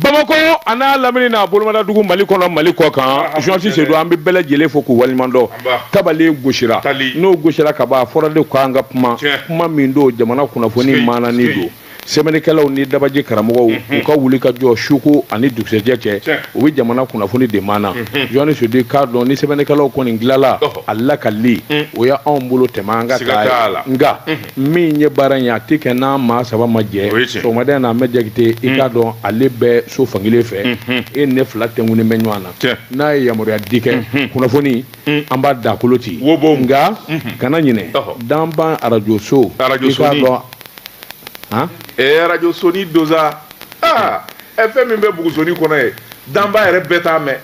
bamakɔ a n'a lamini n'a bolomadadugu mali kɔnɔ mali kɔ kan jɔnsi sedu an bɛ bɛɛ lajɛlen fo k'u waleɲumandɔn tabale gosira n'o gosira ka ban a fɔra de k'an ka kuma kuma min don jamana kunnafoni maanani don sɛbɛnnikɛlaw ni dabaji karamɔgɔw mhm. u ka wuli ka jɔ suko ani dugusɛjɛ cɛ u bɛ jamana kunnafoni de maana mhm. jɔnni sedu k'a dɔn ni sɛbɛnnikɛlaw kɔni dilanla a lakalili mhm. o y'anw bolo tɛmɛ an ka taa nka min ye baara in ye a tɛ kɛ n'an maa saba ma jɛ sɔgɔmada in na an bɛ jakite i k'a dɔn ale bɛ so fankelen fɛ e ne fila tɛŋunen bɛ ɲɔgɔn na n'a ye yamaruya di kɛ kunnafoni an b'a dakolo ci nka kana ɲinɛ danba arajoso i k'a dɔn arajosoni don sa aa fɛn min bɛ bugusoni kɔnɔ yen danba yɛrɛ bɛɛ t'a mɛn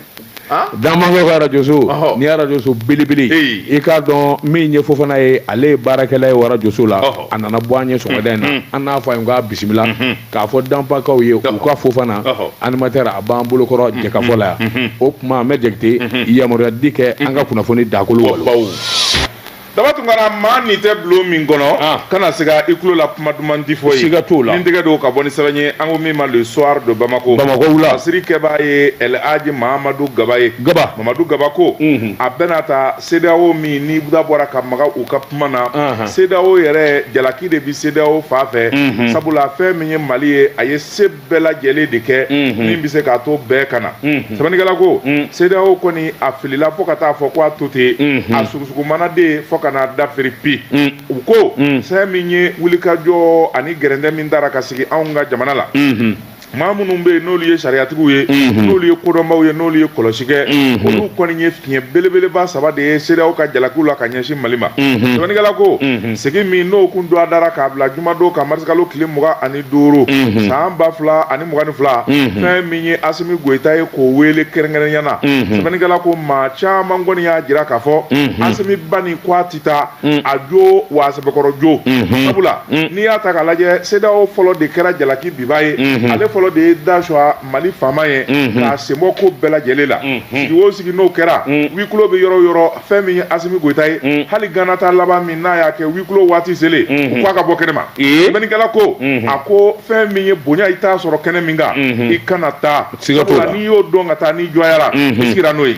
Danbakaw ka arajoso ni arajoso belebele i k'a dɔn min ye fofana ye ale ye baarakɛla ye o arajoso la a nana bɔ an ye sɔgɔmada in na an n'a fo k'a bisimila k'a fɔ danbakaw ye u ka fofana animatɛri a b'an bolokɔrɔ jɛkafɔ la yan o tuma an bɛ jakite yamaruya di kɛ an ka kunnafoni dakolo daba tun kana maa ni tɛ bulon min kɔnɔ ah. kana se ka i tulo la kuma duman di fɔ ye siga t'o la ni tɛgɛ don ka bɔ ni sɛbɛn ye an ko min ma le soir de Bamako Bamako wula masiri kɛbaa ye El Hadji Mahamadu Gaba ye Gaba Mahamadu Gaba ko mhm. a bɛna ta CEDEAO minnu da bɔra ka maga u ka kuma na CEDEAO yɛrɛ jalaki de bi CEDEAO fan fɛ mhm. sabula fɛn min ye Mali ye a ye se bɛɛ lajɛlen de kɛ min bɛ se k'a to bɛɛ ka na sɛbɛnnikɛla ko CEDEAO kɔni a filila fo ka taa fɔ ko a to ten a sugusugumanaden fo ka n'a dafiri pi u ko fɛn min ye wulikajɔ ani gɛrɛntɛ min dara ka sigi anw ka jamana la maa minnu bɛ yen n'olu ye sariyatigiw ye n'olu ye kodɔnbaw ye n'olu ye kɔlɔsi kɛ olu kɔni ye fiɲɛ belebeleba saba de ye CEDEAO ka jalakiw la ka ɲɛsin Mali ma sɛbɛnnikɛla ko sigi min n'o kun dɔgɔdara k'a bila jumadon kan marisikalo tile mugan ani duuru san ba fila ani mugan ni fila fɛn min ye asimi goyita ye k'o wele kɛrɛnkɛrɛnya na sɛbɛnnikɛla ko maa caman kɔni y'a jira k'a fɔ asimi banni ko a tɛ taa a jo wa sɛbɛkɔrɔ jo sabula n'i y'a ta k'a lajɛ CEDEAO fɔlɔ de kɛra jalaki binbaa ye ale fɔlɔ de ye da suwa mali faama ye k'a sen bɔ ko bɛɛ lajɛlen la sigi o sigi n'o kɛra huis clos bɛ yɔrɔ o yɔrɔ fɛn min ye Asimi Goyita ye mm. hali Gana ta laban min n'a y'a kɛ huis clos waati selen mm-hmm. u k'a ka bɔ kɛnɛ ma sɛbɛnnikɛla ko mm-hmm. a ko fɛn min ye bonya i t'a sɔrɔ kɛnɛ min kan mm-hmm. i kana taa sabula n'i y'o dɔn ka taa n'i dɔgɔyara i sigira n'o ye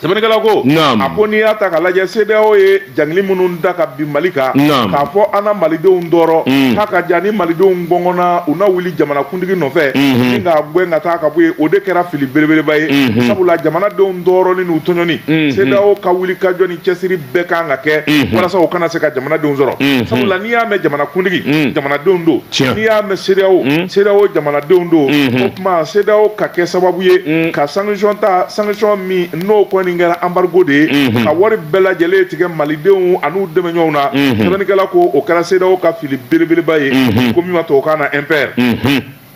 sɛbɛnnikɛla ko a ko n'i y'a ta ka lajɛ CEDEAO ye jangili minnu da ka bin Mali kan k'a fɔ an na malidenw tɔɔrɔ mm. k'a ka ja ni malidenw gɔngɔnna u na wuli jamana kuntigi nɔfɛ min ka gɛn ka taa ka bɔ yen o de kɛra fili belebeleba ye sabula jamanadenw tɔɔrɔli n'u tɔɲɔni CEDEAO ka wulikajɔ ni cɛsiri bɛɛ kan ka kɛ walasa o kana se ka jamanadenw sɔrɔ sabula n'i y'a mɛn jamanakuntigi jamanadenw don n'i y'a mɛn CEDEAO CEDEAO jamanadenw don o tuma CEDEAO ka kɛ sababu ye ka sanction ta sanction min n'o kɔni kɛra embargo de ye ka wari bɛɛ lajɛlen tigɛ malidenw an'u dɛmɛɲɔgɔnw na sɛbɛnnikɛla ko o kɛra CEDEAO ka fili belebeleba ye ko min ma tubabukan na impair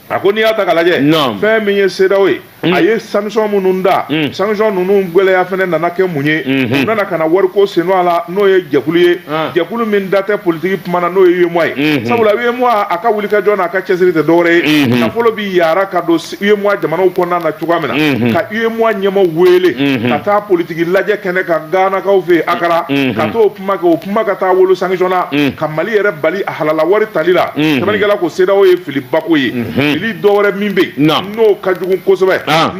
a ko n'i y'a ta ka lajɛ fɛn min ye CEDEAO ye mm. a ye sanction minnu da mm. sanction ninnu gwɛlɛya fana nana kɛ mun ye mm-hmm. u nana ka na wariko sen don a la n'o ye jɛkulu ye ah. jɛkulu min da tɛ politiki kuma na n'o ye UEMOA ye mm-hmm. sabula UEMOA a ka wulikajɔ n'a ka cɛsiri tɛ dɔwɛrɛ ye mm-hmm. nafolo bi yaara ka don UEMOA jamanaw kɔnɔna na cogoya min na ka UEMOA ɲɛmɔgɔ wele ka taa politiki lajɛ kɛnɛ kan Ganakaw fɛ Akara ka t'o kuma kɛ o kuma ka taa wolo sanction na mm. ka Mali yɛrɛ bali a halala wari tali la mm. sɛbɛnnikɛla ko CEDEAO ye filibako ye mm-hmm. fili dɔ wɛrɛ min bɛ yen n'o ka jugu kosɛbɛ ah.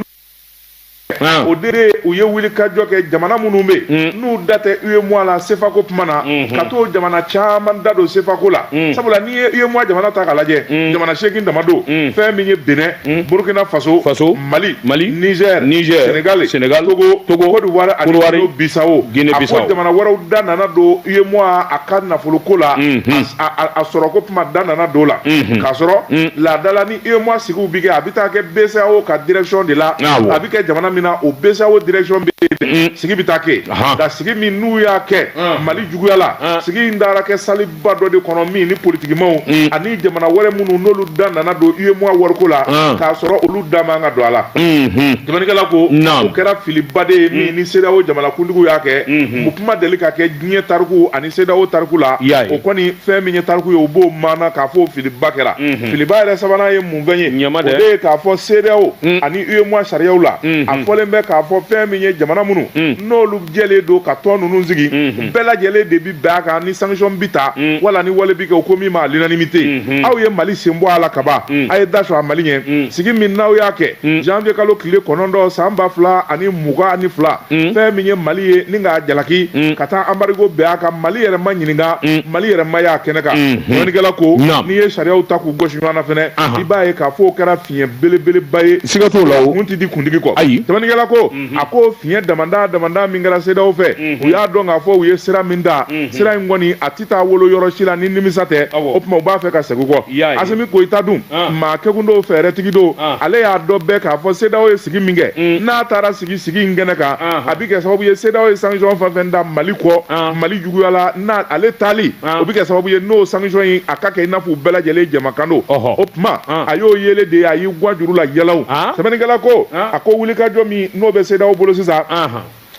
Ah. o de u ye wulikajɔ kɛ jamana minnu bɛ yen mm. n'u da tɛ UEMOA la sefako kuma na mm-hmm. ka t'o jamana caman da don sefako la mm. sabula n'i ye UEMOA jamana ta k'a lajɛ jamana seegin dama don fɛn min ye Benin Burkina Faso Mali Mali Niger Niger Senegal Senegal Togo Togo Cote d'Ivoire ani Kodowari Guinée Bissau Guinée Bissau a ko jamana wɛrɛw da nana don UEMOA a ka nafoloko la Unhun. a a- a sɔrɔko kuma da nana don o la Unhun. k'a sɔrɔ laadala ni UEMOA sigiw bi kɛ a bi taa kɛ BCEAO ka direction de la Awɔ. a bi kɛ jamana min na o BCEAO direction bɛ yen sigi bi taa kɛ Ahan. nka sigi min n'u y'a kɛ Mali juguya la sigi in taara kɛ salle ba dɔ de kɔnɔ min ni politikimaw mm. ani jamana wɛrɛ minnu n'olu da nana don UEMOA wariko la ah. k'a sɔrɔ olu da man ka don a la mm-hmm. sɛbɛnnikɛla ko o kɛra filiba de ye min mm. ni CEDEAO jamanakuntigiw y'a kɛ mm-hmm. o ko ma deli ka kɛ diɲɛ tariku ani CEDEAO tariku la o kɔni fɛn min ye tariku ye o b'o maana k'a fɔ filiba kɛra mm-hmm. filiba yɛrɛ sabanan ye mun fɛn ye o de ye k'a fɔ CEDEAO mm. ani UEMOA sariyaw la a fɔlen bɛ k'a fɔ fɛn min ye jamana minnu n'olu jɛlen don ka tɔn ninnu sigi bɛɛ lajɛlen de bi bɛn a kan ni sanction bi ta mm. wala ni wale bi kɛ u ko min ma l'unanimité mm-hmm. aw ye mali sen bɔ a la kaban mm. aw ye da sɔgɔ mali ɲɛ mm. sigi min n'aw y'a kɛ janvier kalo tile kɔnɔntɔn san ba fila ani mugan ani fila fɛn min ye mali ye ni k'a jalaki ka taa embargo bin a kan mali yɛrɛ ma ɲininka mali yɛrɛ ma y'a kɛnɛ kan sɛbɛnnikɛla mm-hmm. ko n'i ye sariyaw ta k'u gosi ɲɔgɔn na fɛnɛ i b'a ye k'a fɔ o kɛra fiɲɛ belebeleba ye siga t'o la o kuntigi kuntigi kɔ ayi sɛbɛnnikɛla ko Mhm. a ko fiɲɛ damada damada min kɛra CEDEAO fɛ mhm. u y'a dɔn k'a fɔ u ye sira min ta mhm. sira in kɔni a tɛ taa wolo yɔrɔ si la ni nimisa tɛ o tuma u b'a fɛ ka segin kɔ Asimi Goyita dun ah. maa kekun don fɛɛrɛtigi don ah. ale y'a dɔn bɛɛ k'a fɔ CEDEAO ye sigi min kɛ mm. n'a taara sigi sigi in kɛnɛ kan ah. a bɛ kɛ sababu ye CEDEAO ye sanction fɛn fɛn ta mali kɔ mali juguya la n'a ale taali o bɛ kɛ sababu ye n'o sanction in a ka kɛ i n'a fɔ u bɛɛ lajɛlen jamakan don o tuma Ah. a y'o yele de ye a y'i gwa juru la yɛlɛw ah. sɛbɛnnikɛla ko ah. a ko wulikajɔ min n'o bɛ CEDEAO bolo sisan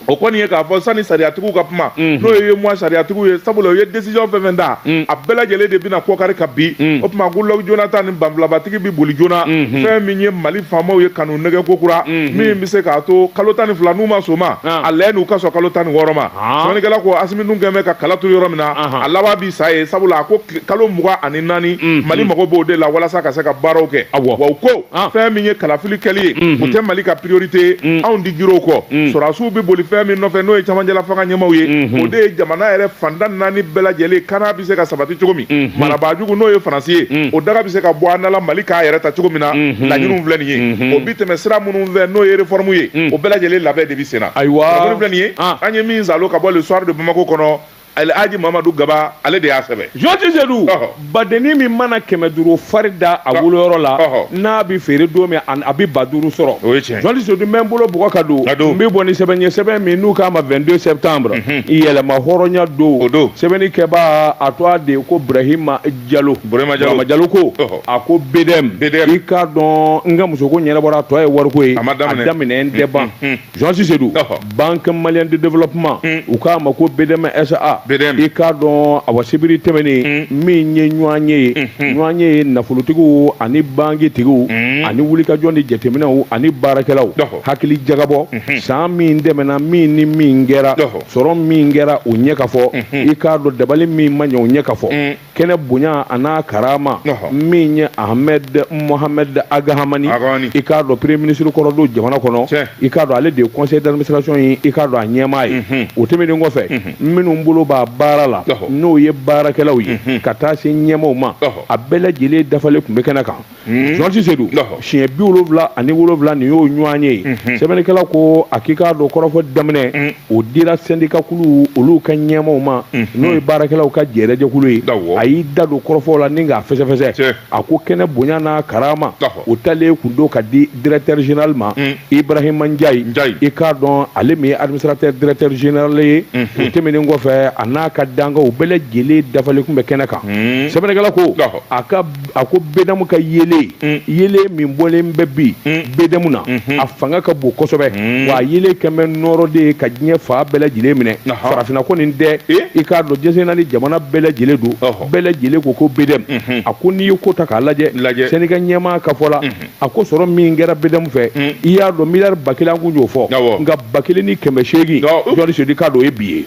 o kɔni ye k'a fɔ sani sariyatigiw ka kuma mhm. n'o ye UEMOA sariyatigiw ye sabula o ye décision fɛn fɛn ta mhm. a bɛɛ lajɛlen de bɛna kɔkari ka bin mhm. o tuma goodluck jonathan ni banfulabatigi bɛ boli joona fɛn min ye mali faamaw ye ka n'u nɛgɛn kokura min bɛ se k'a to kalo tan ni fila n'u ma sɔn o ma a laɲini u ka sɔn kalo tan ni wɔɔrɔ ma sɛbɛnnikɛla ko asimi dun kɔni bɛ ka kala turu yɔrɔ min na a laban bi sa ye sabula a ko kalo mugan ani naani mm, mali mm. mago b'o de la walasa ka se ka baaraw kɛ wa ko ah. fɛn min ye kalafili kɛli ye mm-hmm. o tɛ mali ka priorité mm. anw di jiriw kɔ mm. sɔrɔdasiw bɛ boli fɛn min nɔfɛ n'o ye cɛmancɛla fanga ɲɛmaaw ye mm-hmm. o de ye jamana yɛrɛ fanda naani bɛɛ lajɛlen kana bɛ se ka sabati cogo min mm-hmm. marabaajugu n'o ye faransi ye o daga bɛ se ka bɔ an da la mali k'a yɛrɛ ta cogo min na laɲiniw filɛ nin ye o bi tɛmɛ sira minnu fɛ n'o ye reformu ye o bɛɛ lajɛlen labɛn de bɛ sen na ayiwa filɛ nin ye ah. an ye min zalo ka bɔ le soir de bamako kɔnɔ alhaji mamadu gaba ale de y'a sɛbɛn jɔti sedu badenni min mana kɛmɛ duuru fari da a woloyɔrɔ la n'a bɛ feere don min a bɛ ba duuru sɔrɔ jɔti sedu n bɛ n bolo bɔgɔ ka don n bɛ bɔ ni sɛbɛn ye sɛbɛn min n'u k'a ma 22 septembre mhm. yɛrɛmahɔrɔnya don o don sɛbɛnni kɛbaa a tɔgɔ de ko burahima jalo burahima jalo jalo ko a ko BDM i k'a dɔn n ka musoko ɲɛnabɔra a tɔ ye wariko ye a daminɛ n tɛ ban mhm. Jean-Cy Seydou Ɔhɔ. Banque malienne de développement Mm. u k'a ma ko BDM SA BDM. i k'a dɔn awa sibiri tɛmɛnen min ye ɲɔanye ye ɲɔanye ye nafolotigiw ani bankitigiw Mm. ani wulikajɔ ni jateminɛw ani baarakɛlaw Ɔhɔ. hakili jagabɔ san min tɛmɛna min ni min kɛra Ɔhɔ. sɔrɔ min kɛra o ɲɛ ka fɔ i k'a dɔn dabali min ma ɲɛ o ɲɛ ka fɔ Mm. kɛnɛ bonya an'a karama min ye ahmed mohamed ag hamani i k'a dɔn premier ministre kɔrɔ don jamana kɔnɔ i k'a dɔn ale de ye conseil d'administration ye i k'a dɔn a ɲɛmaa ye mhm. o tɛmɛnen kɔfɛ mhm. minnu bolo b'a baara la n'o ye baarakɛlaw ye mhm. ka taa se ɲɛmaaw ma a bɛɛ lajɛlen dafalen tun bɛ kɛnɛ kan jɔsi sedu siɲɛ bi wolowula ani wolowula nin y'o ɲɔanye ye sɛbɛnnikɛla ko a k'i k'a dɔn kɔrɔfɔ daminɛ o dira sɛndikakulu olu ka ɲɛmaaw ma n'o ye baarakɛlaw ka jɛjɛkulu ye a y'i da don kɔrɔfɔw la ni k'a fɛsɛfɛsɛ a ko kɛnɛ bonya n'a karama o talen kun don ka di directeur général ma ibrahima n'diaye i k'a dɔn ale min ye administrateur directeur général ye o tɛmɛnen kɔfɛ a n'a ka dankanw bɛɛ lajɛlen dafalen tun bɛ kɛnɛ kan sɛbɛnnikɛla ko a ka a ko BDM ka yeelen mm. yeelen min bɔlen bɛ bi mm. BDM na mm-hmm. a fanga ka bon kosɛbɛ mm. wa yeelen kɛmɛ nɔɔrɔ de ye ka diɲɛ fan bɛɛ lajɛlen minɛ farafinna kɔni dɛ eh? i k'a dɔn jɛnsɛnna ni jamana bɛɛ lajɛlen don bɛɛ lajɛlen ko ko BDM mm-hmm. a ko n'i ye ko ta k'a lajɛ sɛndika ɲɛmaa ka fɔ la mm-hmm. a ko sɔrɔ min kɛra BDM fɛ i y'a dɔn miliyari ba kelen an kun y'o fɔ nka ba kelen ni kɛmɛ seegin jɔti sedu i k'a dɔn o ye bi ye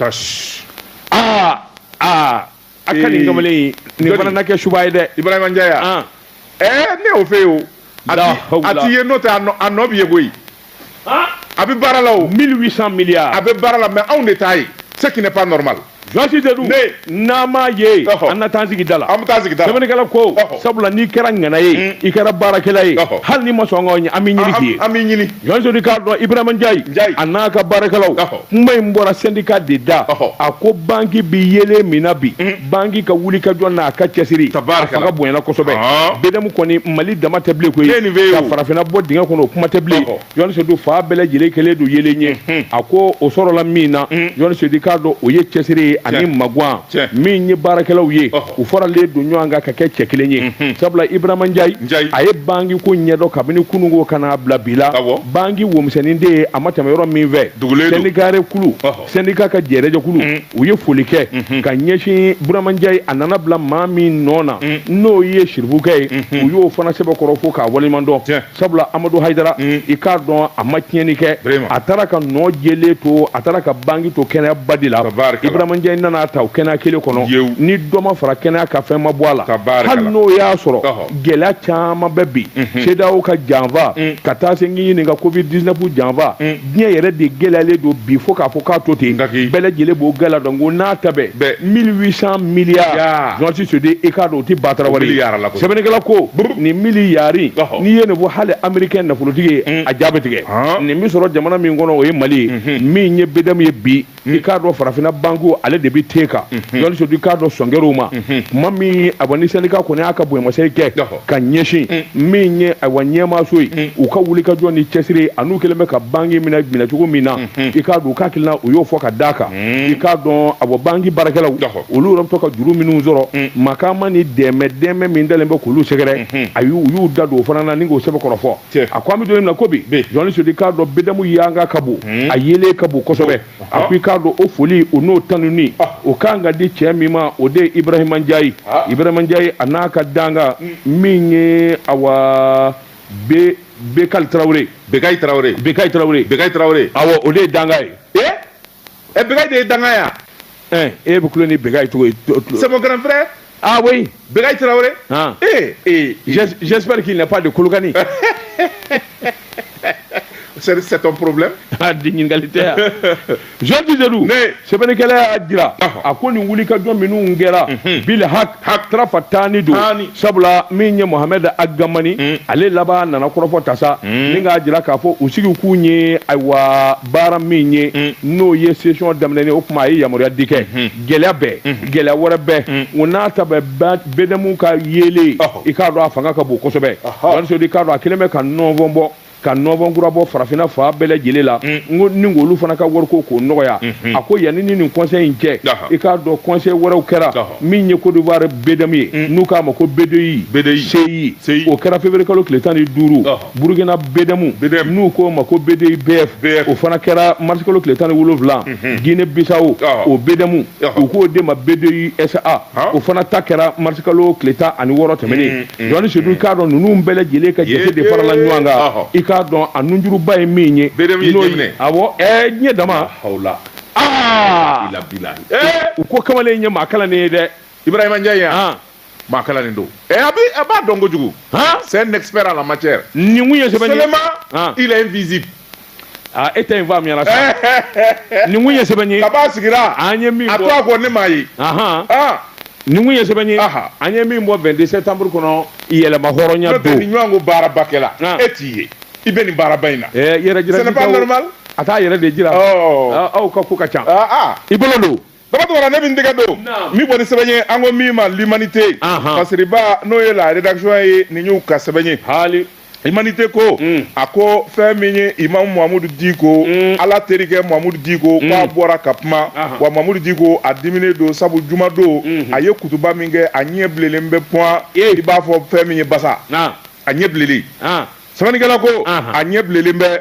aa aa a ka ɲi kamalen in nin fana na kɛ suba ye dɛ ibrahima njayi ah. eh, ne y'o fɔ e ye o a ti ye n'o tɛ a nɔ bɛ ye koyi ah. a bɛ baara la o 1800 milliards a bɛ baara la mais anw de t'a ye ce qui n'est pas normal jɔsi de dun n'an m'a ye an na taa sigi da la an bɛ taa sigi da la sɛbɛnnikɛla ko sabula n'i kɛra ŋana ye mm. i kɛra baarakɛla ye hali n'i ma sɔn an ka ɲɔgɔn ye an b'i ɲini k'i ye an b'i ɲini Jean Jodi k'a dɔn Ibrahima Ndiaye, Ndiaye. a n'a ka baarakɛlaw Ɔhɔ. kuma in bɔra syndicat de da Ɔhɔ. a ko banki bi yeelen min na bi banki ka wulikajɔ n'a ka cɛsiri Tabaaraka a fanga bonyana kosɛbɛ Ɔhɔ. BDM kɔni Mali dama tɛ bilen koyi K'e nin bɛ ye ka o. farafinna bɔ dingɛ kɔnɔ o kuma tɛ bilen Ɔhɔ. Jean Jodi fan bɛɛ lajɛlen kɛlen don yeelen ye a ko o sɔrɔla min na Jean Jodi k'a dɔn o ye cɛsiri ye ani Tiɲɛ. magwan Tiɲɛ. min ye baarakɛlaw ye Ɔhɔ. u faralen don ɲɔgɔn kan ka kɛ cɛ kelen ye sabula Ibrahima Ndiaye a ye banki ko ɲɛdɔn kabini kununko ka n'a bila bi la banki wo misɛnnin de ye a ma tɛmɛ yɔrɔ min fɛ syndicat jɛkulu syndicat ka jɛrɛjɛkulu mm. u ye foli kɛ mm-hmm. ka ɲɛsin burama njayi a nana bila maa min nɔ na mm. n'o ye sirifukɛ ye mm-hmm. u y'o fana sɛbɛkɔrɔ fo k'a waleɲuman dɔn sabula amadu hayidara mm. i k'a dɔn a ma tiɲɛni kɛ a taara ka nɔ jɛlen to a taara ka banki to kɛnɛya ba de la ibrahima njayi nana a ta o kɛnɛya kelen kɔnɔ ni dɔ ma fara kɛnɛya kan fɛn ma bɔ a la hali n'o y'a sɔrɔ gɛlɛya caman bɛ bi mhm. sedeyawo ka janfa mm. ka taa se n k'i ɲininka covid 19 janfa mm. diɲɛ yɛrɛ de gɛlɛyalen don bi fo k'a fɔ k'a to ten bɛɛ lajɛlen b'o gɛlɛya dɔn k'o n'a ta bɛɛ 1800 miliyari jɔnsi sode e k'a dɔn o tɛ batarawari sɛbɛnnikɛla ko nin miliyari n'i ye nin fɔ hali amerikɛn nafolotigi ye mm. a ja bɛ tigɛ nin bɛ sɔrɔ jamana min kɔnɔ o ye mali ye min ye BDM ye bi i k'a dɔn farafinna bankiw ale de bɛ ten kan yaliso i k'a dɔn sɔn kɛra u ma tuma min awa ni syndicat kɔni y'a ka bonyamasegin kɛ ka ɲɛsin min ye awa ɲɛmaaso ye u ka wulikajɔ ni cɛsiri ani n'u kɛlen bɛ ka banki minɛ minɛcogo min na i k'a dɔn u ka hakilina u y'o fɔ ka d'a kan i k'a dɔn awa banki baarakɛlaw olu yɛrɛ bɛ ka juru minnu sɔrɔ ma ma ni dɛmɛ dɛmɛ min dalen bɛ k'olu sɛgɛrɛ awa u y'u da don o fana na ni k'o sɛbɛkɔrɔ fɔ a ko an bɛ don min na ko bi jɔnni sodi k'a dɔn BDM yanga ka bon hmm. a yeelen ka bon kosɛbɛ a ko i k'a dɔn o foli o n'o tanuni ah. o kan ka di cɛ min ma o de ye ibrahima njayi ah. ibrahima njayi a n'a ka dankan hmm. min ye awa be bekayi tarawele bekayi tarawele bekayi tarawele bekayi tarawele awɔ o de ye dankan ye ɛ bekayi de ye dankan ye ɛ e bɛ kulo ni bekayi tɔgɔ ye c'est mon grand frère ah oui bekayi tarawele ah eh eh j'espère qu'il n'est pas de kolokani c'est ton problème ah di ɲininkali tɛ yan Georges Dedou sɛbɛnnikɛla y'a jira a ko nin wulikajɔ minnu kɛra bil hak tarafa tan ni don sabula min ye mohamɛd agamani mm. ale laban nana kɔrɔfɔ tasa mm. ni k'a jira k'a fɔ u sigikun ye ayiwa baara min ye mm. n'o ye sesiyɔn daminɛni o tuma a ye yamaruya di kɛ mm-hmm. gɛlɛya bɛɛ mm-hmm. gɛlɛya wɛrɛ bɛɛ o n'a ta bɛɛ bɛdɛmu ka yeelen i k'a dɔn a fanga ka bon kosɛbɛ walisodi k'a dɔn a kelen bɛ ka nɔnfɔn bɔ ka nɔnfɔn kura bɔ farafinna fan bɛɛ lajɛlen la mm. n ko ni olu fana ka wariko k'o nɔgɔya mm-hmm. a ko yanni ni nin kɔnsɛyi in cɛ i k'a dɔn kɔnsɛyi wɛrɛw kɛra min ye kodiwari bedamu ye mm. n'u k'a ma ko bedeyi seyi o kɛra feburuye kalo tile tan ni duuru burukina bedamu n'u k'o ma ko bedeyi bf o fana kɛra marisi kalo tile tan ni wolonwula mm-hmm. gine bisawo o bedamu u k'o de ma bedeyi sa o fana ta kɛra marisi kalo tile tan ani wɔɔrɔ tɛmɛnen mm. Mm-hmm. jɔni sedu i k'a dɔn ninnu bɛɛ lajɛlen ka jate de farala ɲɔgɔn kan i k'a dɔn a nunjuruba ye min ye n'o ye awɔ ɛɛ diɲɛ dama aa u ko kamalen in ye maa kalannen ye dɛ ibrahima ndiaye yan maa kalannen don ɛ a bi a b'a dɔn kojugu c'est un expert à la matière nin kun ye sɛbɛnni ye seulement il est invisible aa e tɛ yen fɔ a miyara sa nin kun ye sɛbɛn ye kabi a sigira an ye min a to a bɔ kɔ ne m'a ye ahan Ah, nin kun ye sɛbɛn ye Aha. an ye min bɔ 22 septembre kɔnɔ yɛrɛmahɔrɔnya don nin ɲɔgɔn ko baaraba kɛla Ah. e t'i ye i bɛ nin baaraba in na Eh, yɛrɛ jira Ce n'est pas normal. a t'a yɛrɛ de jira Ɔ. Ah, aw ka ko ka ca Ah, ah. i bolo don Dabatɔra ne bɛ tɛgɛ don min kɔni sɛbɛn ye an ko min ma l'humanité kariba n'o ye la rédaction ye nin y'u ka sɛbɛn ye l'humanité ko a ko fɛn min ye imamu mamudu diko ala terikɛ mamudu diko k'a bɔra ka kuma wa mamudu diko a diminen don sabu juma don a ye kutuba min kɛ a ɲɛ bilelen bɛ pe i b'a fɔ fɛn min ye basa a ɲɛ bilelen sɛbɛnnikɛla ko a ɲɛ bilelen bɛ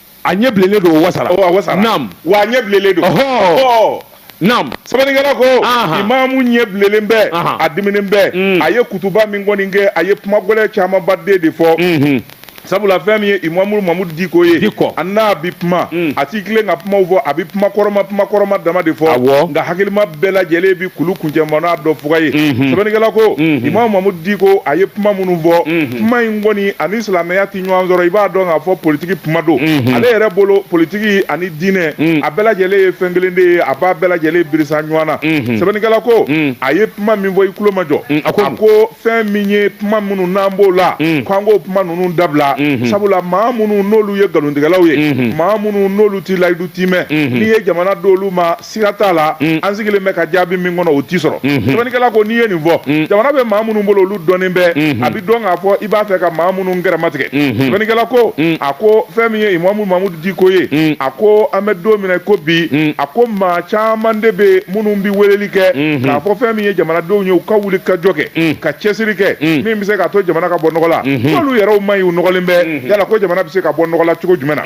a ɲɛ bilelen don o wasara o a wasara naam wa a ɲɛ bilelen don ɔhɔɔ naam sɛbɛnnikɛla ko imamu ɲɛ bilelen bɛ a diminen bɛ mm. a ye kutuba min kɔni kɛ a ye kuma gɛlɛn camanba den de fɔ mm-hmm. sabula fɛn min ye imamu mamudu diko ye diko a n'a bi kuma mm. a t'i tilen ka kumaw fɔ a bi kuma kɔrɔma kuma kɔrɔma dama de fɔ awɔ nka hakilima bɛɛ lajɛlen bi kulu kuncɛmana dɔn fuga ye mm-hmm. sɛbɛnnikɛla ko mm-hmm. imamu mamudu diko a ye kuma minnu fɔ kuma in kɔni a ni silamɛya ɲɔgɔn sɔrɔ i b'a dɔn k'a fɔ politiki kuma don mhm. ale yɛrɛ bolo politiki ani diinɛ mhm. a bɛɛ lajɛlen ye fɛn kelen de ye a b'a bɛɛ lajɛlen birisa ɲɔgɔn na mhm. sɛbɛnnikɛla ko a ye kuma min fɔ i tulomajɔ a ko fɛn min ye kuma minnu n'an b'o la ko an k'o kuma ninnu dabila sabula maa minnu n'olu ye nkalontigɛlaw ye maa minnu n'olu t'i layidu tiimɛ n'i ye jamana d'olu ma siga t'a la mm. an sigilen bɛ ka jaabi min kɔnɔ o t'i sɔrɔ mm-hmm. sɛbɛnnikɛla ko n'i ye nin fɔ mm. jamana bɛ maa minnu bolo olu dɔnnen bɛ mm-hmm. a bɛ dɔn k'a fɔ i b'a fɛ ka maa minnu gɛrɛmatigɛ mm-hmm. sɛbɛnnikɛla ko mm. a ko fɛn min ye imamu mamudu diko ye a ko an bɛ don min na ko bi a ko maa caman de bɛ minnu bɛ weleli kɛ k'a fɔ fɛn min ye jamanadenw ye u ka wuli ka jɔ kɛ ka cɛsiri kɛ min bɛ se k'a to jamana ka bɔ nɔgɔ la n'olu yɛrɛw man ɲi u nɔgɔlen bɛ yala ko jamana bɛ se ka bɔ nɔgɔ la cogo jumɛn na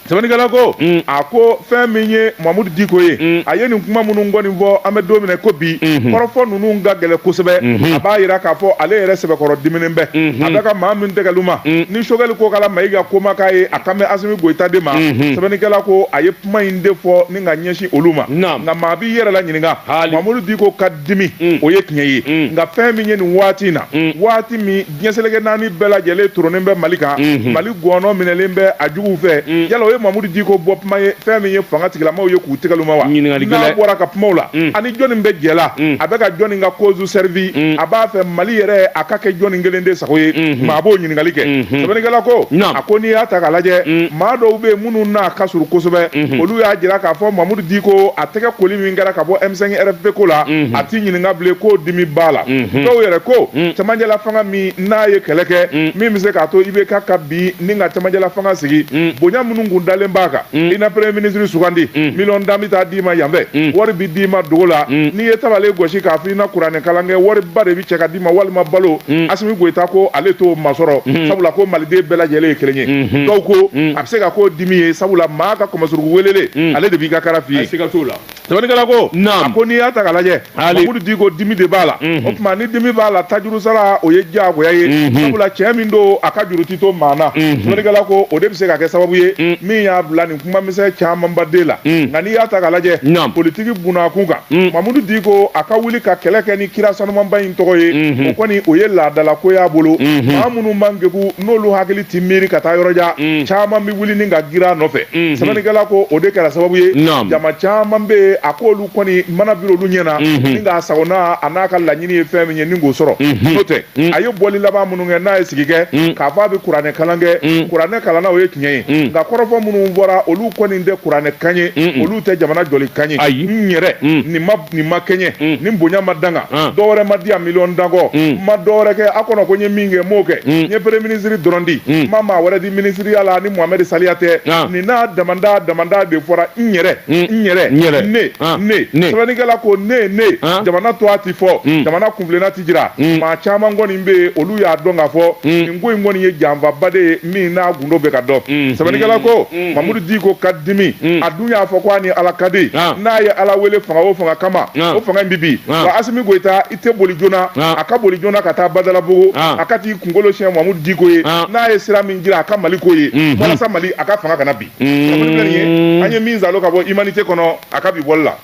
sɛbɛnnikɛla ko mm. a ko fɛn min ye mamudu diko ye mm. a ye nin kuma minnu kɔni fɔ an bɛ don min na ko bi mm-hmm. kɔrɔfɔ ninnu ka gɛlɛn kosɛbɛ mm-hmm. a b'a jira k'a fɔ ale yɛrɛ sɛbɛkɔrɔ diminen bɛ mm-hmm. a bɛ ka maa min tɛgɛluma mm. ni sogɛli kokala mayiga ko ma k'a ye a kan bɛ asimi goyita de ma sɛbɛnnikɛla ko a ye kuma in de fɔ ni ka ɲɛsin olu ma nka maa b'i yɛrɛ la ɲininka mamudu diko ka dimi mm. o ye tiɲɛ ye mm. nka fɛn min ye nin waati in na mm. waati min diɲɛ seleke naani bɛɛ lajɛlen toronen bɛ mali kan mm-hmm. mali gɔnɔ minɛlen bɛ a juguw fɛ yala o ye mamudu diko bɔ kuma ye fɛn min ye fanga tigilamaw ye k'u tɛgɛluma wa n'a bɔra ka kumaw la a ni jɔni bɛ jɛ la a bɛ ka jɔni ka cause servir a b'a fɛ mali yɛrɛ a ka kɛ jɔni kelen de sago ye mm-hmm. maa b'o ɲininkali kɛ mm-hmm. sɛbɛnnikɛla ko a ko n'i y'a ta k'a lajɛ maa dɔw bɛ minnu n'a ka surun kosɛbɛ mhm. olu y'a jira k'a fɔ mamudu diko a tɛgɛ koli min kɛra ka bɔ m5 rfp ko la mhm. a t'i ɲininka bilen k'o dimi b'a la mhm. dɔw yɛrɛ ko cɛmanjɛla fanga min n'a ye kɛlɛ kɛ min bɛ se k'a to ibk ka bin ni ka cɛmanjɛla fanga sigi bonya minnu kun dalen b'a kan i na premier ministre sugandi miliyɔn tan bɛ taa d'i ma yan fɛ wari bɛ d'i ma dogo la n'i ye tabalen gosi k'a fɔ i na kuranɛkalan kɛ wariba de bɛ cɛ ka ma walima balo mm. asimi goyita ko ale t'o masɔrɔ mm. sabula ko maliden bɛɛ lajɛlen ye kelen ye mm-hmm. dɔw ko mm. a bɛ se ka k'o dimi ye sabula maa ka kɔmɔsuruku welelen ale de b'i ka kara f'i ye sɛbɛnnikɛla ko a ko n'i y'a ta ka lajɛ mamudu diko dimi de b'a la mm-hmm. o tuma ni dimi b'a la tajuru sara o ye diyagoya ye mm-hmm. sabula cɛ min don a ka juru ti to maa na sɛbɛnnikɛla ko o de bɛ se ka kɛ sababu ye min y'a bila nin kumamisɛn camanba den la mm. nka n'i y'a ta ka lajɛ politiki bunakun kan mm. mamudu diko a ka wuli ka kɛlɛ kɛ ni kira sanumanba in tɔgɔ ye mm-hmm. o kɔni o ye laadalako y'a bolo mm-hmm. maa minnu man kegu n'olu hakili tɛ miiri ka taa yɔrɔjan mm. caman bɛ wuli ni ka girin a nɔfɛ mm-hmm. sɛbɛnnikɛla ko o de kɛra sababu ye jama caman bɛ yen a k'olu kɔni mana biri olu ɲɛ na ni k'a sagona a n'a ka laɲini ye fɛn min ye ni k'o sɔrɔ n'o tɛ Mm. a ye bɔli laban minnu kɛ n'a ye sigi kɛ mm. k'a fɔ a bɛ kuranɛ kalan kɛ mm. kuranɛ kalanna o ye tiɲɛ ye nka kɔrɔfɔ minnu bɔra olu kɔni tɛ kuranɛ kan ye olu tɛ jamana jɔli kan ye n yɛrɛ nin ma nin ma kɛɲɛ nin bonya ma da n kan ah. dɔwɛrɛ ma di yan miliyɔn tan kɔ n ma dɔwɛrɛ kɛ a kɔnɔ ko n ye min kɛ n m'o kɛ n ye premier minisiri dɔrɔn di n ma maa wɛrɛ di minisiriya la ni mohamɛdi saliya tɛ ah. nin n'a damanda damanda de fɔra n yɛrɛ n yɛrɛ ne ah. ne sɛbɛnnikɛla ko ne ne jamana to a ti fɔ jamana kunbilenna jira mm. maa caman kɔni bɛ yen olu y'a dɔn k'a fɔ mm. nin ko in kɔni ye janfaba de ye min n'a gundo bɛ ka dɔn mm. sɛbɛnnikɛla ko mamudu diko ka dimi a dun y'a fɔ ko a ni ala ka di ah. n'a ye ala wele fanga o fanga kama ah. o fanga in bɛ bin ah. wa asimi goyita i tɛ boli joona a ka boli joona ka taa badalabugu a ka t'i kunkolo siɲɛ mamudu diko ye n'a ye sira min jira a ka mali ko ye mm-hmm. walasa mali a ka fanga kana bin an ye min zalo ka bɔ imanite kɔnɔ a ka bi bɔli la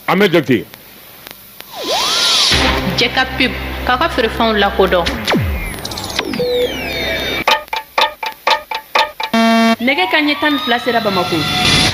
an bɛ jate cɛ ka pub k'a ka feerefɛnw lakodɔn nɛgɛ kanɲɛ tan ni fila sera bamako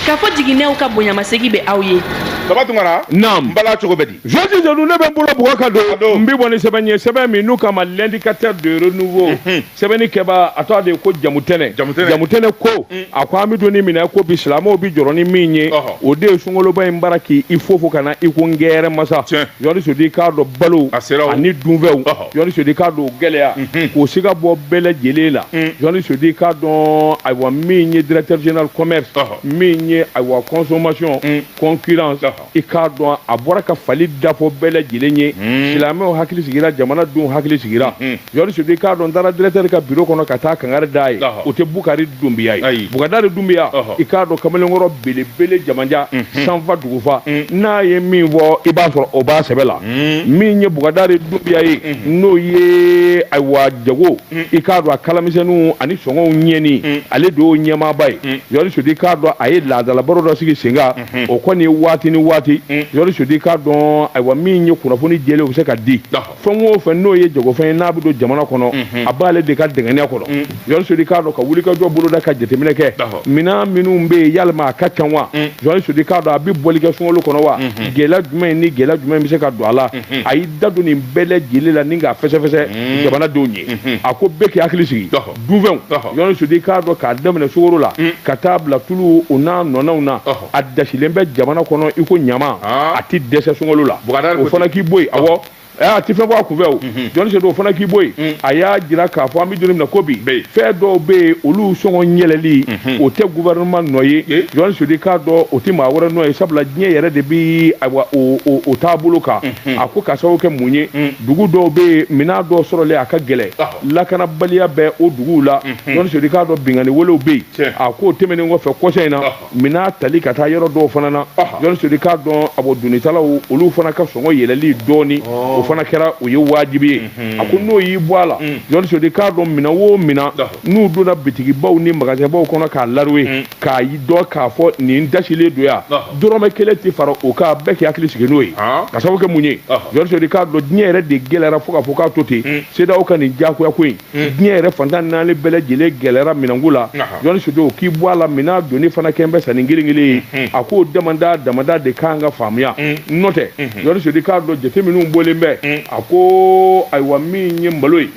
kafo jiginɛw ka bonyamasegin bɛ aw ye baba tunkara naam n bala cogo bɛ di jɔsi jɔnu ne bɛ n bolo bugɔ ka don n bɛ bɔ ni sɛbɛn ye sɛbɛn min n'u k'a ma l'indicateur de renouveau sɛbɛnni kɛbaa a tɔgɔ de ye ko jamutɛnɛ Jamutɛnɛ. jamutɛnɛ ko a ko an bɛ don min na ko bi silamɛw bɛ jɔrɔ ni min ye Ɔhɔ. o de ye sunkaloba in b'a la k'i fofo ka na i ko kɛlɛmasa Tiɲɛ. yɔrɔ sodi k'a dɔn balo A sera o. ani dunfɛnw Ɔhɔ. yɔrɔ sodi k'a dɔn o gɛlɛya k'o siga bɔ bɛɛ lajɛlen la yɔrɔ sodi k'a dɔn ayiwa min ye directeur général commerce Ɔhɔ. min ye ayiwa consommation concurrence Ɔhɔ. i k'a dɔn a bɔra ka fali dafɔ bɛɛ lajɛlen ye hmm. silamɛw hakili sigira jamanadenw hakili sigira hmm. yɔrɔ sodo i k'a dɔn n taara directeur ka biro kɔnɔ ka taa kangari d'a ye o tɛ bukari dunbiya ye bukadari dunbiya i k'a dɔn kamalenkɔrɔ belebele jamanja hmm. sanfa dugufa n'a ye min fɔ i b'a sɔrɔ o b'a sɛbɛ la min ye bukadari dunbiya ye n'o ye ayiwa jago i k'a dɔn a kalamisɛnninw ani sɔngɔw ɲɛni ale de y'o ɲɛmaaba ye yɔrɔ sodo i k'a dɔn a ye laadalabaro dɔ sigi senkan o kɔni ye waati ni waati yɔrɔ sudi k'a dɔn ayiwa min ye kunnafoni jɛlen o bɛ se ka di fɛn o fɛn n'o ye jagofɛn ye n'a bɛ don jamana kɔnɔ a b'ale de ka dɛgɛnya kɔnɔ yɔrɔ sudi k'a dɔn ka wulikajɔ boloda ka jateminɛ kɛ minɛn minnu bɛ yen yalima a ka ca wa yɔrɔ sudi k'a dɔn a bɛ bɔli kɛ sunkalo kɔnɔ wa gɛlɛya jumɛn ni gɛlɛya jumɛn bɛ se ka don a la a y'i da don nin bɛɛ lajɛlen la ni k'a fɛsɛfɛsɛ jamanadenw ye a ko bɛɛ k'i hakili sigi dunfɛnw yɔrɔ sudi k'a dɔn k'a daminɛ sukaro la mm. ka taa bila tulu o n'a ɲɔgɔnnaw na a dasilen bɛ jamana kɔnɔ i ko ɲama ah. a tɛ dɛsɛ sunkalo la o fana k'i bɔ yen awɔ a tɛ fɛn bɔ a kunfɛ o mm-hmm. jɔnni sɛ o fana k'i bɔ yen mm. a y'a jira k'a fɔ an bɛ don min na ko bi fɛn dɔw bɛ yen olu sɔngɔ yɛlɛli mm-hmm. o tɛ gouvernement nɔ ye jɔnni sɛ k'a dɔn o tɛ maa wɛrɛ nɔ ye sabula diɲɛ yɛrɛ de bɛ ayiwa o o o taabolo kan mm-hmm. a ko ka sababu kɛ mun ye mm. dugu dɔw bɛ yen minɛn dɔw sɔrɔli a ka gɛlɛn. lakanabaliya bɛ o duguw la ɲɔni sodi k'a dɔn binkanni walew bɛ yen a k'o tɛmɛnen kɔfɛ kɔsa in na minan tali ka taa yɔrɔ dɔw fana na ɲɔni sodi k'a dɔn ah bon donitalaw olu fana ka sɔngɔ yɛlɛli dɔɔni o fana kɛra o ye wajibi ye a ko n'o y'i bɔ a la ɲɔni sodi k'a dɔn minɛn wo minɛn n'u donna bitigibaw ni magasinbaw kɔnɔ k'a laruwe k'a dɔn k'a fɔ nin dasilen don yan dɔrɔmɛ kelen tɛ fara o kan bɛɛ k'i hakili sigi n'o ye ka sababu kɛ mun ye ɲɔni sodi k'a dɔn diɲɛ yɛrɛ de gɛlɛyara fo k'a fɔ k'a to ten CEDEAO ka nin diyagoya ko in diɲɛ yɛrɛ fan tan ni naani bɛɛ lajɛlen gɛlɛyara minɛnko la Jɔni Sodo k'i bɔ a la minɛn donni fana kɛlen bɛ sa ni kelen kelen ye a k'o damada damada de ka kan ka faamuya n'o tɛ Jɔni Sodo k'a dɔn jate minnu bɔlen bɛ a ko ayiwa min ye malo ye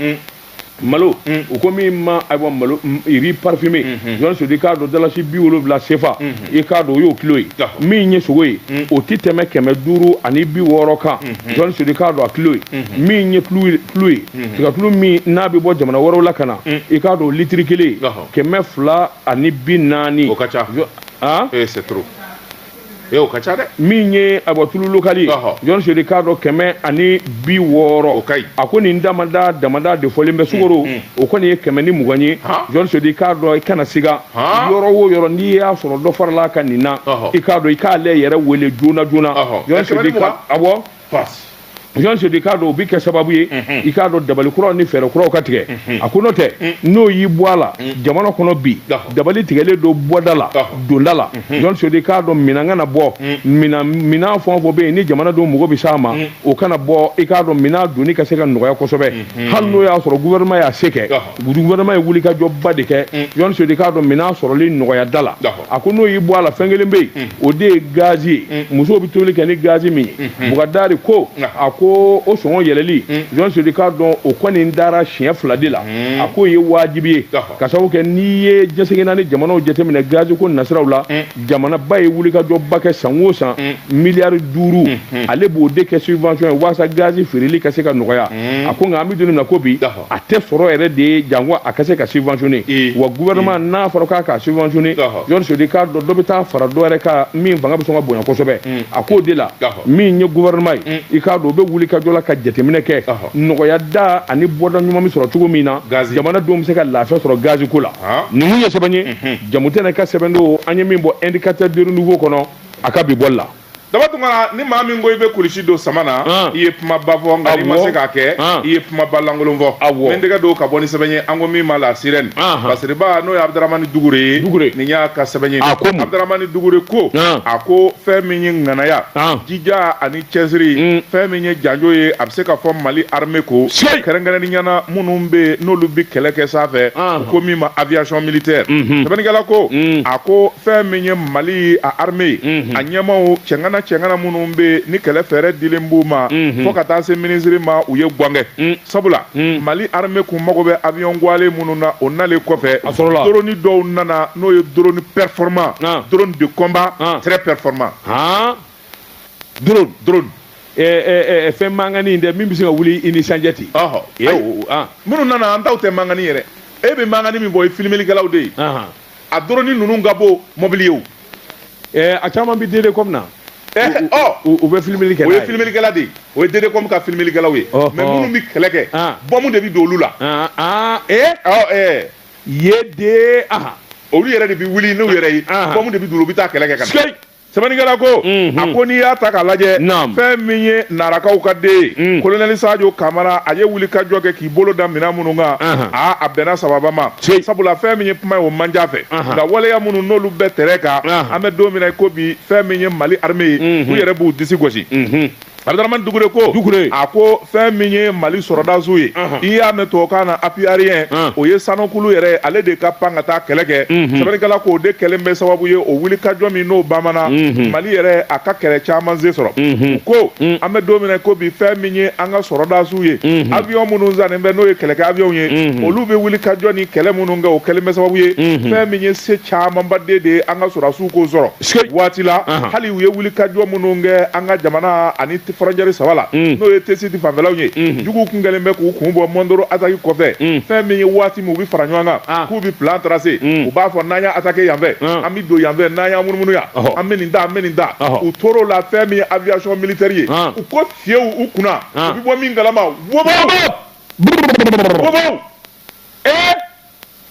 malo u ko min ma ayiwa malo riz parfumé Jɔni Sodo k'a dɔn dalasi bi wolonwula CFA i k'a dɔn o y'o kilo ye min ye sogo ye mm. o tɛ tɛmɛ kɛmɛ duuru ani bi wɔɔrɔ kan mm-hmm. jɔnni sori k'a dɔn a kilo ye mm-hmm. min ye tulu ye mm-hmm. tigatulu min n'a bɛ bɔ jamana wɛrɛw la ka na mm. i k'a dɔn litiri kelen ye kɛmɛ fila ani bi naani o ka ca ah? eh, c'est trop ee o ka ca dɛ min ye ah bon tulu lokali ye jɔn seri k'a dɔn kɛmɛ ani bi wɔɔrɔ o ka ɲi a ko nin damada damada de fɔlen bɛ sukoro o kɔni ye kɛmɛ ni mugan ye jɔn seri k'a dɔn i kana siga yɔrɔ wo yɔrɔ n'i y'a sɔrɔ dɔ farala a kan nin na i k'a dɔn i k'ale yɛrɛ wele joona joona ah bon jɔn sedi k'a dɔn o bi kɛ sababu ye i k'a dɔn dabali kuraw ni fɛɛrɛ kuraw ka tigɛ a ko n'o tɛ n'o y'i bɔ a la jamana kɔnɔ bi dabali tigɛlen don bɔda la donda la jɔn sedi k'a dɔn minan kana bɔ minan fɛn o fɛn bɛ yen ni jamanadenw mago bɛ s'a ma o kana bɔ i k'a dɔn minan donni ka se ka nɔgɔya kosɛbɛ hali n'o y'a sɔrɔ gouvernement y'a se kɛ gouvernement ye wulikajɔba de kɛ mm. yɔni sodi k'a dɔn minɛn sɔrɔli nɔgɔya da la a ko n'o y'i bɔ a la fɛn kelen bɛ yen mm. o de ye gazi ye mm. musow bɛ tobili kɛ ni gazi min ye mm-hmm. Bukadari ko a ko o sɔngɔ yɛlɛli yɔni sodi k'a dɔn o kɔni dara siɲɛ fila de la a k'o ye waajibi ye ka sababu kɛ n'i ye diɲɛ seleke naani jamanaw jateminɛ gazi ko nasiraw la jamanaba ye wulikajɔba kɛ san o san miliyari duuru mm-hmm. ale b'o de kɛ subvention ye walasa gazi feereli ka se ka nɔgɔya a ko nka an bɛ don min na ko bi a tɛ sɔrɔ yɛrɛ de ye janko a ka se ka subventionner ee wa gouvernement ee n'a fɔra k'a ka subventionner Jɔn Sedi k'a dɔn dɔ bɛ taa fara dɔ yɛrɛ kan min fanga bɛ sɔn ka bonya kosɛbɛ a k'o de la min ye gouvernement ye i k'a dɔn o bɛ wulikajɔ la ka jateminɛ kɛ nɔgɔya da ani bɔda ɲuman bɛ sɔrɔ cogo min na jamana denw bɛ se ka lafiya sɔrɔ gazi ko la ninnu ye sɛbɛn ye Jamutɛnɛ ka sɛbɛn don an ye min bɔ Indicateur du Renouveau kɔnɔ a ka bi bɔli la daba tun kana ni maa min ko i bɛ kulusi don sama na ah. i ye kuma ba fɔ nka n'i ma se k'a kɛ ah. i ye kuma ba lankolon fɔ n bɛ tɛgɛ don ka bɔ ni sɛbɛn ye an ko min ma la sirène ah. basiriba n'o ye abudaramani dukure ye nin y'a ka sɛbɛn ye abudaramani dukure ko a ko fɛn min ye ŋanaya jija ani cɛsiri mm. fɛn min ye janjo ye a bɛ se ka fɔ mali arme ko kɛrɛnkɛrɛnnenya na minnu bɛ n'olu bɛ kɛlɛ kɛ sanfɛ u ko min ma aviation militaire mm-hmm. sɛbɛnnikɛla ko mm. a ko fɛn min ye mali a armée a ɲɛmaw cɛŋana cɛŋana minnu bɛ ni kɛlɛ fɛɛrɛ dilen b'u ma fo ka taa se minisiri ma u ye gwangɛ sabula mali armée kun mago bɛ avion gwalen minnu na o nalen kɔfɛ drone dɔw nana n'o ye drone performant drone de combat très performant drone drone fɛn mankani in dɛ min bɛ se ka wuli i ni sanjɛ ten minnu nana an taw tɛ mankani yɛrɛ e bɛ mankani min bɔ i filmelikɛlaw de ye a dɔrɔni ninnu ka bon mɔbili ye o ɛɛ a caman bɛ dede kɔmi na ɛɛ ɔ u bɛ filimeli kɛ o ye filimilikɛla de ye o ye dede kɔmi ka filimilikɛlaw ye mais minnu bɛ kɛlɛ kɛ bɔmu de bɛ don olu la ee ɔ ɛɛ ye de aha olu yɛrɛ de bɛ wuli n'u yɛrɛ ye bɔmu de bɛ don u bɛ taa kɛlɛ kɛ ka na sɛbɛnnikɛla ko a ko n'i y'a ta k'a lajɛ fɛn min ye narakaw ka den ye kolonɛli sajo kamara a ye wuli ka jɔ kɛ k'i bolo da minɛn minnu kan aa a bɛnna sababa ma sabula fɛn min ye kuma ye o man di a fɛ nka waleya minnu n'olu bɛ tɛrɛn kan an bɛ don min na i ko bi fɛn min ye mali arme ye u yɛrɛ b'u disi gosi Abdramane Dukure ko a ko fɛn min ye Mali sɔrɔdasiw ye i y'a mɛn tubabukan na appui aérien o ye sankurun yɛrɛ ye ale de ka pan ka taa kɛlɛ kɛ sɛbɛnnikɛla ko o de kɛlen bɛ sababu ye o wulikajɔ min n'o bamana Mali yɛrɛ a ka kɛlɛ caman se sɔrɔ u ko an bɛ don min na i ko bi fɛn min ye an ka sɔrɔdasiw ye avion minnu sannen bɛ n'o ye kɛlɛkɛ avion ye olu bɛ wulikajɔ ni kɛlɛ minnu kɛ o kɛlen bɛ sababu ye fɛn min ye se camanba de ye an ka sɔrɔdasiw k'o sɔrɔ waati la hali u ye wulikajɔ minnu kɛ an ka jamana ani fɔrɔncɛri saba la mm. n'o ye tesiti fanfɛlaw ye mm. juguw kun kɛlen bɛ k'u kun bɔ mondoro ataki kɔfɛ mm. fɛn min ye waati min u bɛ fara ɲɔgɔn kan ah. k'u bɛ plan trase u b'a fɔ n'an y'a atake yanfɛ ah. an bɛ don yanfɛ n'an y'a munumunu yan an bɛ nin ta an bɛ nin ta u tor'o la fɛn min ye aviation militaire ye ah. u ko fiyew u kunna u bɛ bɔ min kalama wobaw wobaw ee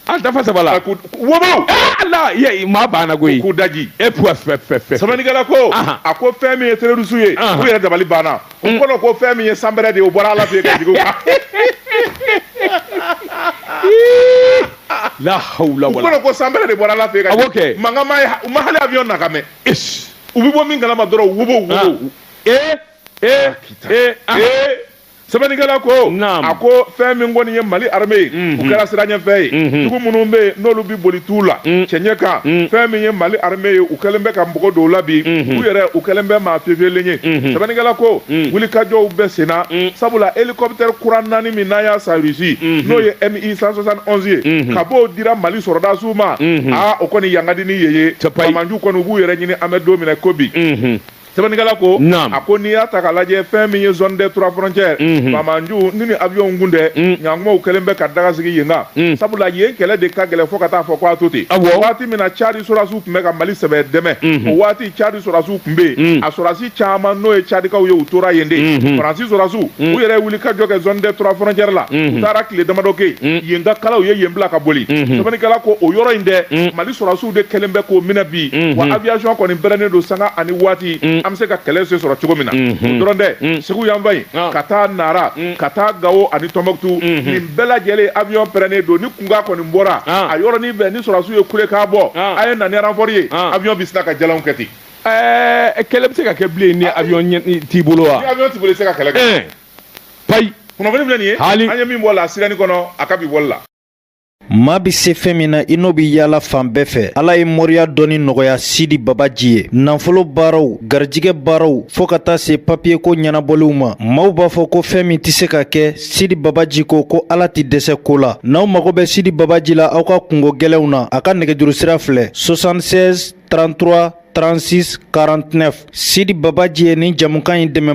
an dafa saba la ko wobaw ee ala ye maa banna koyi k'u daji e puwa fɛ fɛ fɛ sɛbɛnnikɛla ko a ko fɛn min ye terroriste ye u yɛrɛ dabali banna u mm. kɔnɔ ko fɛn min ye sanpɛrɛn de ye o bɔra ala fɛ yen ka jigin u kan la hawla wala u kɔnɔ ko sanpɛrɛn de bɔra ala fɛ yen ka jigin mankan ma ye u ma hali avion nakan mɛn u bɛ bɔ min kalama dɔrɔn wobow wobow ee ee ee ee sɛbɛnnikɛla ko a ko fɛn min kɔni ye mali arme ye u kɛra siranɲɛfɛn ye jugu minnu bɛ yen n'olu bɛ boli tu la cɛɲɛ kan fɛn min ye mali arme ye u kɛlen bɛ ka mɔgɔ dɔw la bi u yɛrɛ u kɛlen bɛ maa pepelen ye sɛbɛnnikɛla ko wulikajɔw bɛ senna sabula helicoptère kura naani min n'an y'a san Russie n'o ye MI 171 ye kabi o dira mali sɔrɔdasiw ma aa o kɔni yangadi ni ye ye faamaju kɔni u b'u yɛrɛ ɲini an bɛ don min na ko bi sɛbɛnnikɛla ko Naam. a ko n'i y'a ta k'a lajɛ fɛn min ye zone des trois frontières Mhm. faamajuw ni ni avion kun tɛ Mm. ɲankumaw kɛlen bɛ ka daga sigi yen kan Mm. sabula yen kɛlɛ de ka gɛlɛ fo ka taa fɔ ko a to ten Awɔ. waati min na cadi sɔrasiw tun bɛ ka mali sɛbɛ dɛmɛ Mhm. o waati cadi sɔrasiw tun bɛ yen Mm. a sɔrasi caman n'o ye cadikaw ye u tora yen de Mhm. faransi sɔrasiw u yɛrɛ ye wulikajɔ kɛ zone des trois frontières la Mhm. u taara tile damadɔ kɛ yen yen ka kalan u ye yen bila ka boli Mhm. sɛbɛnnikɛla ko o yɔrɔ in dɛ mali sɔrasiw Olu de kɛlen bɛ k'o minɛ bi, unhun, wa aviation kɔni pɛrɛnnen don sanga ani waati, un, an bɛ se ka kɛlɛ se sɔrɔ cogo min na, unhun, o dɔrɔn tɛ, un, Segu yanfan in, ɔn, ka taa Nara, un, ka taa Gawo ani Tɔnbɔkutu, unhun, nin bɛɛ lajɛlen avion pɛrɛnnen don, ni kunkan kɔni bɔra, ɔn, a yɔrɔnin bɛɛ ni sɔrɔdasiw ye kulekan bɔ, ɔn, a ye na ni renfort ye, ɔn, avion bɛ sina ka jalanw kɛ ten. Ɛɛ kɛlɛ bɛ se ka kɛ bilen ni avion t'i bolo wa? Ni avion t'i bolo i tɛ se ka kɛlɛ kɛ. Ɛɛ, payi. Kunnafoni filɛ nin ye, Haali. an ye min bɔ La Sirène kɔnɔ, a ka bi bɔli la. Maa bɛ se fɛn min na i n'o bɛ yaala fan bɛɛ fɛ ala ye moriya dɔnni nɔgɔya sidi babaji ye nafolo baaraw garijɛgɛ baaraw fɔɔ ka taa se papiyeko ɲɛnabɔliw ma maaw b'a fɔ ko fɛn min tɛ se ka kɛ sidi babaji ko ko ala tɛ dɛsɛ ko la n'aw mago bɛ sidi babaji la aw ka kunko gɛlɛnw na a ka nɛgɛjuru sira filɛ 76 33 36 49 sidi babaji ye nin jɛmukan in dɛmɛ